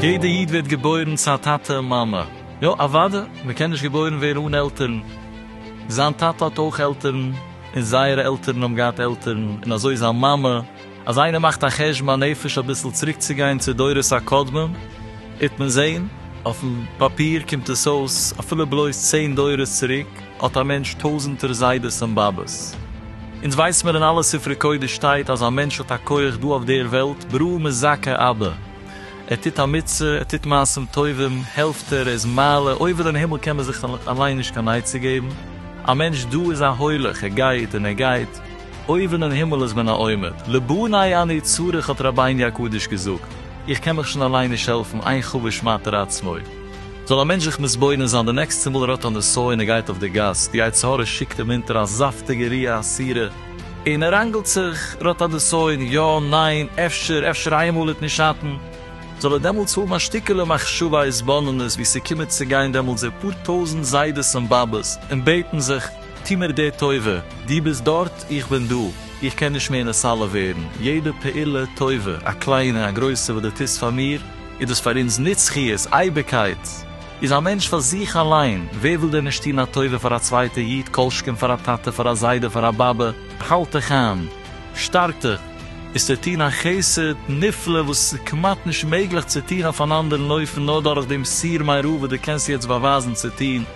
יעדע איד ווערט געבוירן צו א טאטע און מאמע. יא אוואדע, מען קען נישט געבוירן ווערן אן עלטערן. זיין טאטע האט אויך עלטערן, און זייערע עלטערן האבן געהאט עלטערן, און אזוי זיין מאמע. אז איינער מאכט א חשבון הנפש אביסל צוריקצוגיין צו דורות הקודמים, וועט מען זען, אויפן פאפיר קומט עס אויס, אפילו בלויז צען דורות צוריק, האט א מענטש טויזענטער זיידעס און באבעס. אונז ווייס מיר אין אלע ספרי קודש שטייט אז א מענטש האט א כח דא אויף דער וועלט ברא מזכה אבה, ער טוט א מצוה, ער טוט מעשים טובים, העלפט ער, ער איז מעלה, אויבען אין הימל קען מען זיך אליין נישט קיין עצה געבן, א מענטש דא איז א הולך, ער גייט און ער גייט. אויבן אין הימל איז מען א עומד, לבני אני צריך האט רבי'ן הקדוש געזאגט, איך קען מיך שוין אליין נישט העלפן, איין חבוש מעטר עצמו. זאל א מענטש זיך מתבונן זיין די נעקסטע מאל ער האט א נסיון און גייט אויף די גאס, די יצר הרע שיקט אים אונטער א זאפטיגע ריאה אסירה, און ער ראנגלט זיך, ער האט א נסיון, יא, ניין, אפשר, אפשר איינמאל איתני שטן, זאל ער דעמאלטס האבן א שטיקעלע מחשבה התבוננות ווי ס'קומען צו גיין דעמאלטס די פאר טויזנט זיידעס און באבעס און בעטן זיך, טו מיר די טובה, דו ביסט דארט, איך בין דא, איך קען נישט מער נסלל ווערן, יעדע פעולה טובה, א קליינע, א גרויסע, וואס דו טוסט פאר מיר, איז דאס פאר אונז נצחיות, אייביגקייט. איז א מענטש פאר זיך אליין, ווער וויל דען נישט טון א טובה פאר א צווייטע איד, כל שכן פאר א טאטע, פאר א זיידע, פאר א באבע. האלט דיך איין, שטארק דיך, איז צו טון א חסד נפלא וואס איז כמעט נישט מעגליך צו טון אויף אן אנדערן אופן, נאר דורך דעם סיר מרע וואס דו קענסט יעצט באווייזן צו טון,